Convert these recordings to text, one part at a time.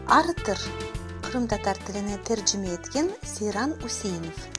Arıtır, qırımtatar tiline tercime etken Seyran Üseinov.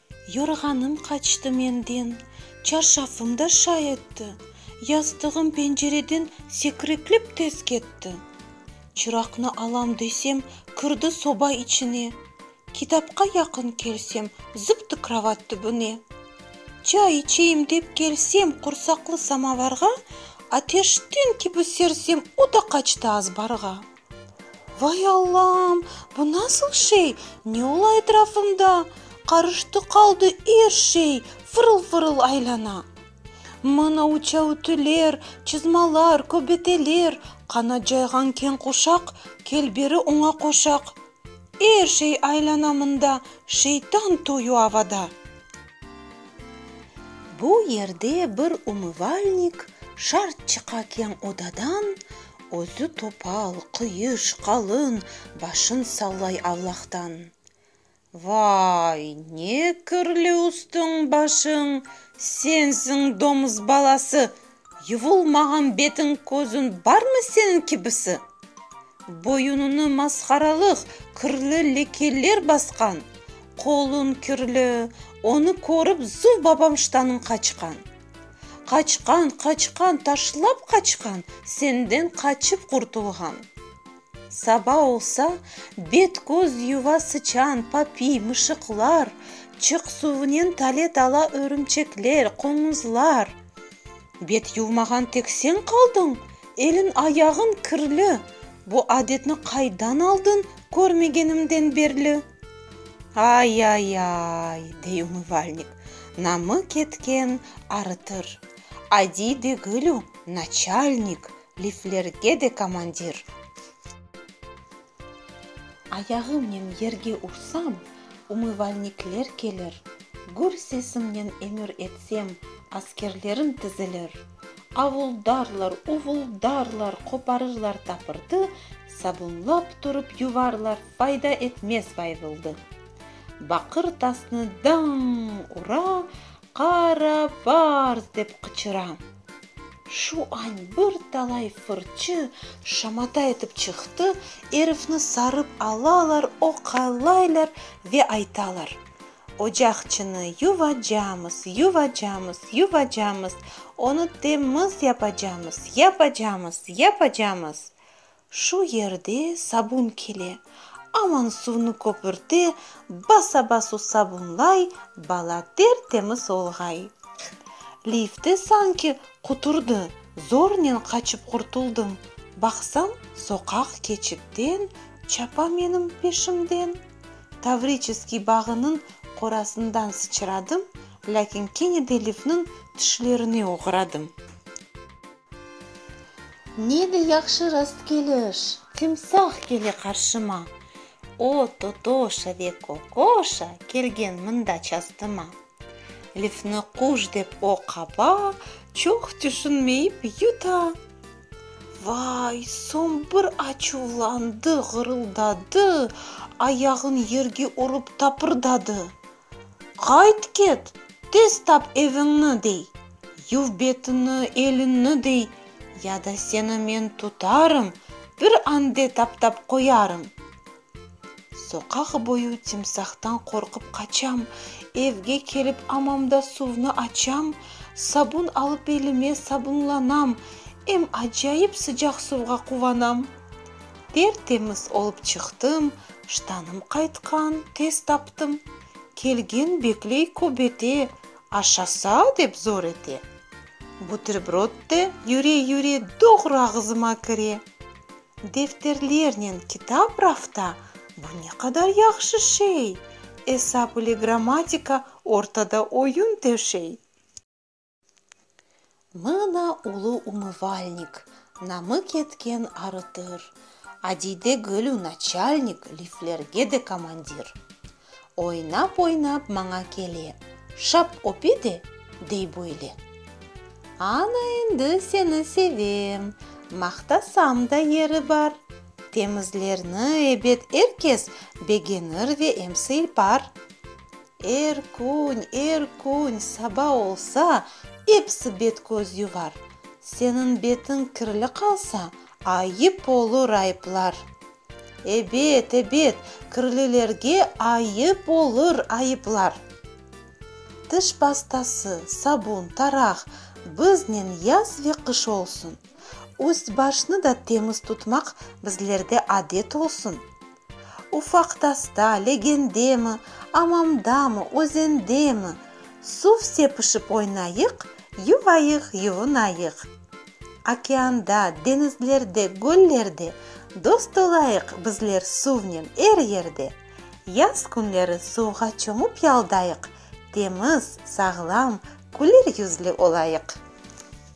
Yorğanım qaçtı menden, çarşafım da şay etti, yastığım pencereden sekriklip tez ketti. Çıraqnı alam desem, kirdi soba içine, kitapqa yaqın kelsem, zıptı kravat tübüne. Çay içeyim dep kelsem qursaqlı samovarğa, ateşten kibi sersem, o da qaçtı azbarğa. Vay Allam! Bu nasıl şey? Ne ola etrafımda? Qarıştı qaldı er şey, fırıl-fırıl aylana. Mına uça ütüler, çızmalar, köbeteler, qanat cayğan keñ quşaq, kel beri oña qoşaq. Er şey aylana mında, şeytan toyu avada. Bu yerde bir umıvalnik şart çıqa keñ odadan, Özü topal, qıyış, qalın, başın sallay Allahtan. Vay, ne kirli üstüñ-başıñ, sensiñ domuz balası, yuvulmağan betiñ-közüñ barmı seniñ kibisi? Boyunıñı masqaralıq kirli lekeler basqan, qoluñ kirli, onı körip zuv babam ştanıñ qaçqan. Qaçqan, qaçqan, taşlap qaçqan, senden qaçıp qurtulğan. Saba olsa, bet-köz yuva sıçan, papiy, mışıqlar, çıq suvınen talet ala örümçekler, qoñuzlar. Bet yuvmağan tek sen qaldıñ, eliñ-ayağıñ kirli, bu adetni qaydan aldıñ körmegenimden berli? Ay-ay-ay! dey umıvalnik. Namık etken arıtır. Adiy degil o, naçalnik, liflerge de komandir. Ayağımnen yerge ursam, umıvalnikler kelir, gür sesimnen emir etsem, askerlerim tizilir, avuldarlar, uvuldarlar, qoparırlar tapırtı, Sabunlap turıp yuvarlar, fayda etmez bayvıldı. Baqır tasnı daññ ura, qara barz dep qıçıra. Şu añ bir talay fırçı şamata etip çıqtı, erifni sarıp alalar, oqalaylar ve aytalar, Ocaqçını yuvacamız, yuvacamız, yuvacamız, onı temiz yapacamız, yapacamız, yapacamız! Şu yerde sabun kele, aman suvnı köpürte, basa-basu sabunlay, bala ter-temiz olğay. Lifte sanki quturdı, zornen qaçıp qurtuldım, baqsam, soqaq keçitten çapa menim peşimden. Tavriçeskiy bağınıñ qorasından sıçradım, lâkin kene de lifniñ tişlerine oğradım. Ne de yahşı rastkeliş! Timsah kele qarşıma. O, Totoşa ve Kokoşa kelgen mında çastıma. Lifni quş dep o qapa, çoq tüşünmeyip yuta. Vay, soñ bir açuvlandı, ğırıldadı, ayağın yerge urıp tapırdadı. Qayt ket, tez tap eviñni, dey, yuv betini, elinni, dey, ya da seni men tutarım, bir ande taptap qoyarım. Soqaq boyu timsahtan qorqıp qaçam, evge kelip amamda suvnı açam, sabun alıp elime sabunlanam, em acayip sıcaq suvğa quvanam. Ter-temiz olıp çıqtım, ştanım qaytqan, tez taptım. Kelgen bekley kübete, aşasa, dep zor ete. Buterbrod de yüre-yüre doğru ağzıma kire. Defterlernen kitap rafta, bu ne qadar yahşı şey! Esap ile grammatika ortada oyun töşey. Mına ulu umıvalnik, namı ketken arıtır, Adide gülü naçalnik, liflerge de komandir. Oynap-oynap maña kele, şap öpe de, dey böyle, Ana endi seni sevem, maqtasam da yeri bar, Temizlerni, ebet, er kes begenir ve emsi ipar. Er kün, er kün saba olsa, episi bet-köz yuvar. Seniñ betiñ kirli qalsa, ayıp olur ayıplar. Ebet, ebet, kirlilerge ayıp olur ayıplar. Tiş pastası, sabun, taraq, biznen yaz ve qış olsun. Üst-başnı da temiz tutmaq bizlerde adet olsun. Ufaq tasta, legendemi, amamdamı, özendemi, suv sepişip oynayıq, yuvayıq, yuvunayıq. Okeanda, deñizlerde, göllerde dost olayıq bizler suvnen er yerde. Yaz künleri suvğa çomıp yaldayıq, temiz, sağlam, küler yüzlü olayıq.